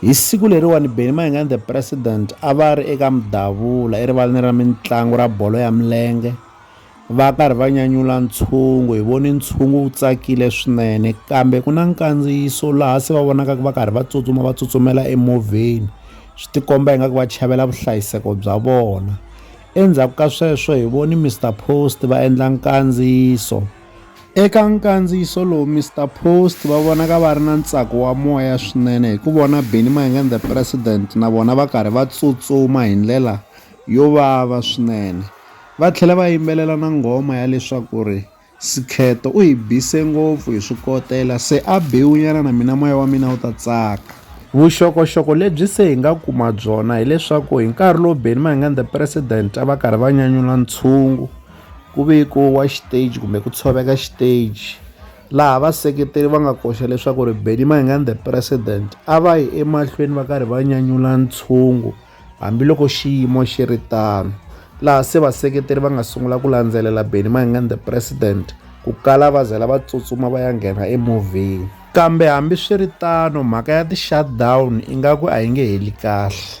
Hi siku leriwani Benny Mayengani the President a va ri eka Mdavula erivaleni ra mintlangu ra bolo ya milenge va karhi va nyanyula ntshungu hi voni ntshungu wu tsakile swinene kambe ku na nkandziyiso laha se va vonaka va karhi va tsutsuma va tsutsumela emovheni swi tikomba ingaku va chavela vuhlayiseko bya vona endzhaku ka sweswo hi voni Mister Post va endla nkandziyiso Eka nkandziyiso lowu, Mister Post va vonaka va ri na ntsako wa moya swinene hi ku vona Benny Mayengani and the President na vona va karhi va tsutsuma hi ndlela yo vava swinene. Va tlhele va yimbelela na nghoma ya leswaku ri, Sikheto u hi bise ngopfu hi swi kotela, se a bewunyana na mina moya wa mina wu ta tsaka. Vuxokoxoko lebyi se hi nga kuma byona hi leswaku hi nkarhi lowu Benny Mayengani and the President a va karhi va nyanyula ntshungu, ku vekiwa xiteji kumbe ku tshoveka xiteji laha vaseketeri va nga koxa leswaku ri Benny Mayengani the president a va yi emahlweni va karhi va nyanyula ntshungu hambiloko xiyimo xi ri tano laha se vaseketeri va nga sungula ku landzelela Benny Mayengani the president ku kala va zela va tsutsuma va ya nghena emovheni kambe hambiswiritano mhaka ya ti-shutdown ingaku a yi nge heli kahle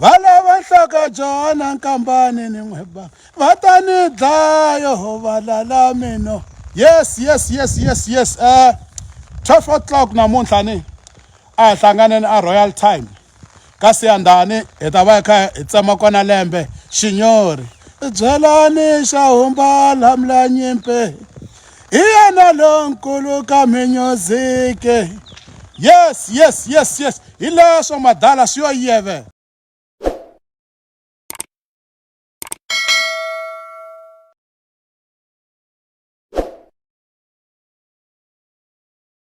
va lava nhlaka jona nkambani ni n'weba va ta ni dlaya ho va lala mino yes yes yes yes yes um eh, 12 o'clock namuntlha ni a hi hlanganeni a royal time ka siyandhani hi ta va hi kha hi tsema kona lembe xinyori byelani xa humbala mlanyimpe hi yena lonkulu ka music yes yes yes yes hi leswo madala swi yo yeve